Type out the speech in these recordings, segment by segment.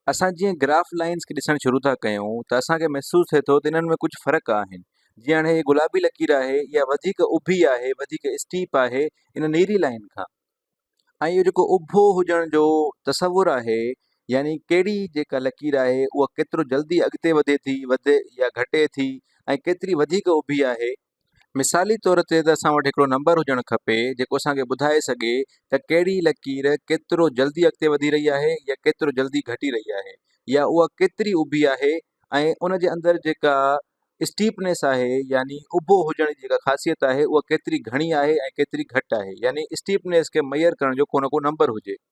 اسان جيئن graph lines کي ڏسڻ شروع ٿا ڪيون ته اسان کي محسوس ٿئي ٿو ته انهن ۾ ڪجهه فرق آهن جيئن هاڻي هي گلابي لڪير آهي اها وڌيڪ اڀي آهي وڌيڪ اسٽيپ آهي ان نيري لائين کان ۽ اهو جيڪو اڀو هجڻ جو تصور آهي يعني ڪهڙي جيڪا لڪير آهي اها ڪيترو جلدي اڳتي وڌي ٿي وڌي يا گهٽي ٿي ۽ ڪيتري وڌيڪ اڀي آهي مثالي طور تي ته اسان وٽ هڪڙو نمبر هجڻ کپي جيڪو اسان کي ٻڌائي سگهي ته ڪهڙي لڪير ڪيترو جلدي اڳتي وڌي رهي آهي يا ڪيترو جلدي گهٽي رهي آهي يا اها ڪيتري اڀي آهي ۽ ان جي اندر جيڪا Steepness آهي يعني اڀو هجڻ جي جيڪا خاصيت آهي اها ڪيتري گهڻي آهي ۽ ڪيتري گهٽ آهي يعني Steepness کي ميئر ڪرڻ جو ڪو نه ڪو نمبر هجي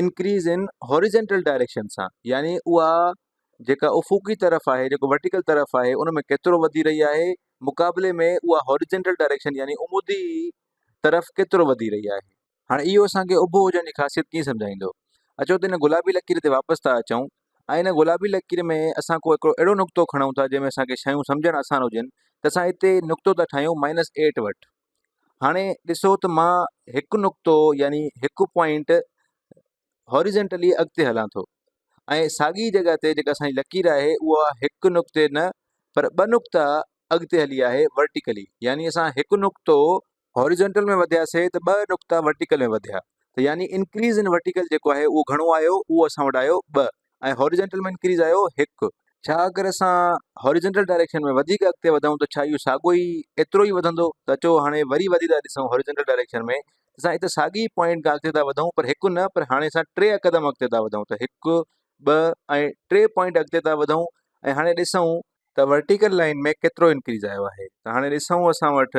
انڪريز ان هاريزنٽل ڊائريڪشن سان يعني اها جيڪا افقي طرف آهي جيڪو ورٽيڪل طرف آهي ان ۾ ڪيترو وڌي رهي آهي مقابلي ۾ اها هاريزنٽل ڊائريڪشن يعني عمودي طرف ڪيترو وڌي رهي آهي هاڻي اهو اسان کي اڀو هجڻ جي خاصيت ڪيئن سمجهائيندو اچو ته هن گلابي لڪير تي واپس ٿا اچون ۽ هن گلابي لڪير ۾ اسان ڪو هڪڙو اهڙو نقطو کڻون ٿا جنهن ۾ اسان کي شيون سمجهڻ آسان هجن ته اسان هتي نقطو ٿا ٺاهيون مائنس ايٽ وٽ هاڻي ڏسو ته مان هڪ نقطو يعني هڪ پوائنٽ هاريزنٽلي اڳتي هلان ٿو ۽ ساڳي جڳهه تي جيڪا اسانجي لڪير آهي اها هڪ نقطي نه پر ٻه نقطا اڳتي هلي آهي ورٽيڪلي يعني اسان هڪ نقطو هاريزنٽل ۾ وڌياسي ته ٻه نقطا ورٽيڪل ۾ وڌيا ته يعني انڪريز ان ورٽيڪل جيڪو آهي اهو گهڻو آيو اهو اسان وٽ آيو ٻه ۽ هاريزنٽل ۾ انڪريز آيو هڪ. ڇا اگر اسان هاريزنٽل ڊائريڪشن ۾ وڌيڪ اڳتي وڌون ته ڇا اهو ساڳو ئي ايترو ئي وڌندو ته اچو هاڻي وري وڌي ٿا ڏسون هاريزنٽل ڊائريڪشن ۾ ته اسان اتي ساڳي ئي پوائنٽ کان اڳتي ٿا وڌون پر هڪ نه پر هاڻي اسان ٽي قدم اڳتي ٿا وڌون ته هڪ ٻه ۽ ٽي پوائنٽ اڳتي ٿا وڌون ۽ هاڻي ڏسون ته ورٽيڪل لائين ۾ ڪيترو انڪريز آيو آهي ته هاڻي ڏسون اسان وٽ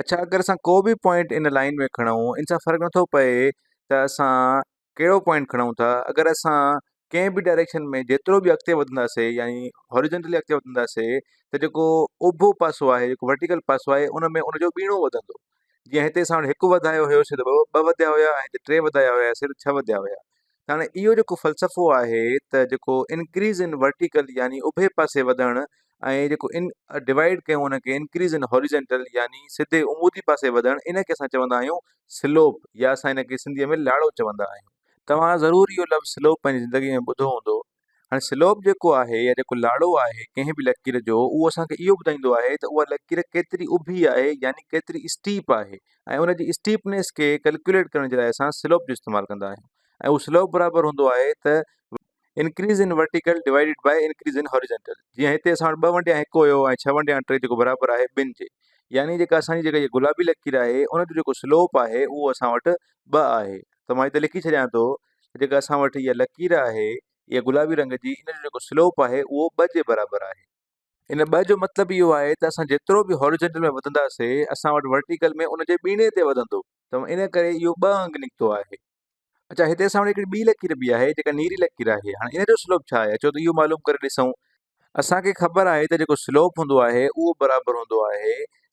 اڇا اگر اسان ڪو به پوائنٽ ان لائين ۾ کڻون ان سان فرق نٿو پئي ته اسان ڪهڙو پوائنٽ کڻون ٿا اگر اسان ڪنهن به ڊائريڪشن ۾ جيترو به اڳتي وڌنداسي يعني هوريجنٽلي اڳتي وڌنداسي ته جيڪو اڀو پاسو آهي جيڪو ورٽيڪل پاسو آهي ان ۾ ان جو ٻيڻو وڌندو جيئن هتي اسان وٽ هڪ وڌايو هيوسي ته ٻه وڌيا هيا ۽ هتي ٽي وڌايا هياسي ته ڇهه وڌيا هيا ته هاڻي اهو جيڪو فلسفو آهي ته جيڪو انڪريز ان ورٽيڪل يعني اڀي پاسي وڌڻ ۽ جيڪو ان ڊوائيڊ ڪيون ان کي انڪريز ان هوريجنٽل يعني سڌي عمودي پاسي وڌڻ ان کي اسان چوندا آهيون سلوپ يا اسان ان کي سنڌي ۾ لاڙو چوندا آهيون. توهان ضرور اهو لفظ سلوپ پنهنجي زندگي ۾ ٻڌو هوندو هاڻي سلوپ جيڪو آهي يا جيڪو لاڙو آهي ڪنهن به لڪير جو اهو اسان کي اهو ٻڌائيندو آهي ته اها لڪير ڪيتري اڀي آهي يعني ڪيتري اسٽيپ آهي ۽ ان جي اسٽيپنيس کي ڪلڪيوليٽ ڪرڻ جي لاء اسان سلوپ جو استعمال ڪندا آهيون ۽ اهو سلوپ برابر هوندو آهي ته increase in vertical divided by increase in horizontal جيئن هتي اسان وٽ ٻه ونڊيان هڪ هيو ۽ ڇهه ونڊيان ٽي جيڪو برابر آهي ٻن جي يعني جيڪا اسان جي جيڪا گلابي لڪير آهي ان جو جيڪو سلوپ آهي اهو اسان وٽ ٻه آهي ته مان هتي لکي ڇڏيان ٿو جيڪا اسان وٽ اها لڪير آهي اها گلابي رنگ جي ان جو جيڪو سلوپ آهي اهو ٻه جي برابر آهي ان ٻه جو مطلب اهو آهي ته اسان جيترو به هاريجنٽل ۾ وڌنداسي اسان وٽ ورٽيڪل ۾ ان جي ٻيڻي تي وڌندو ته ان ڪري اهو ٻه انگ نڪتو آهي اچا هتي اسان وٽ هڪڙي ٻي لڪير به آهي جيڪا نيري لڪير آهي هاڻي ان جو سلوپ ڇا آهي اچو ته اهو معلوم ڪري ڏسون اسان کي خبر آهي ته جيڪو سلوپ هوندو آهي اهو برابر هوندو آهي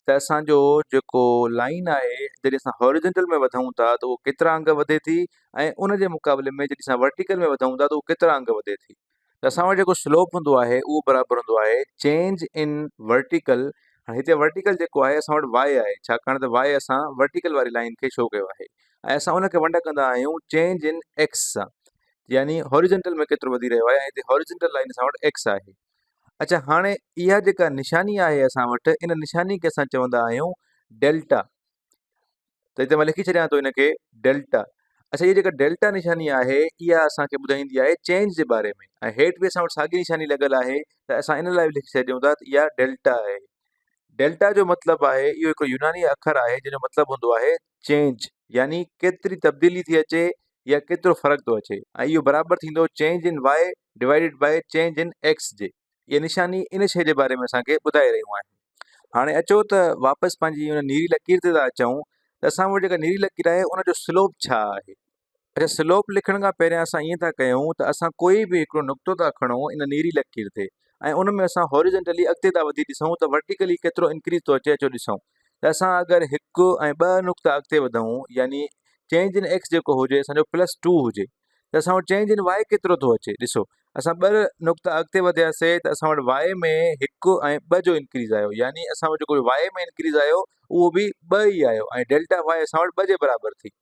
ته اسان جو جيڪو لائين آهي جڏهن اسان هاريزنٽل ۾ وڌون ٿا ته اهو ڪيترا انگ وڌي ٿي ۽ ان جي مقابلي ۾ جڏهن اسان ورٽيڪل ۾ وڌون ٿا ته اهو ڪيترا انگ وڌي ٿي ته اسان وٽ جيڪو سلوپ هوندو آهي اهو برابر هوندو آهي چينج ان ورٽيڪل هاڻي هتي ورٽيڪل جيڪو آهي اسان وٽ واء آهي ڇاڪاڻ ته واء اسان ورٽيڪل واري لائين کي شو ڪيو آهي ۽ اسان ان کي ونڊ ڪندا آهيون چينج ان ايڪس سان يعني هاريزنٽل ۾ ڪيترو وڌي رهيو آهي ۽ هتي هاريزنٽل لائين اسان وٽ ايڪس آهي اڇا هاڻي اها جيڪا نشاني آهي اسان وٽ ان نشاني کي اسان چوندا آهيون ڊيلٽا ته هتي مان لکي ڇڏيان ٿو هنکي ڊيلٽا اچھا هي جيڪا ڊيلٽا نشاني آهي اها اسانکي ٻڌائيندي آهي چينج جي باري ۾ ۽ هيٺ به اسان وٽ ساڳي نشاني لڳل آهي ته اسان ان لاء به لکي ڇڏيون ٿا ته اها ڊيلٽا آهي ڊيلٽا جو مطلب آهي اهو هڪ يوناني اکر آهي جنهن جو مطلب هوندو آهي چينج يعني ڪيتري تبديلي ٿي اچي يا ڪيترو فرق ٿو اچي ۽ اهو برابر ٿيندو change in Y divided by change in X جي اهي نشاني ان شيء جي باري ۾ اسان کي ٻڌائي رهيون آهن هاڻي اچو ته واپس پنهنجي ان نيري لڪير تي ٿا اچون ته اسان وٽ جيڪا نيري لڪير آهي ان جو سلوپ ڇا آهي اچا سلوپ لکڻ کان پهريان اسان ائين ٿا ڪيون ته اسان ڪوئي به هڪڙو نقطو ٿا کڻون ان نيري لڪير تي ۽ ان ۾ اسان هاريزنٽلي اڳتي ٿا وڌي ڏسون ته ورٽيڪلي ڪيترو انڪريز ٿو اچي اچو ڏسون ته اسان اگر هڪ ۽ ٻه نقطا اڳتي وڌون يعني چينج ان ايڪس جيڪو هجي اسان جو پلس ٽو هجي ته اسان وٽ چينج ان واء ڪيترو ٿو اچي ڏسو اسان ٻه نقطا اڳتي وڌياسي ته اسان وٽ واء ۾ هڪ ۽ ٻه جو انڪريز آيو يعني اسان وٽ جيڪو واء ۾ انڪريز آيو اهو به ٻه ئي آيو ۽ ڊيلٽا واء اسان وٽ ٻه جي برابر ٿي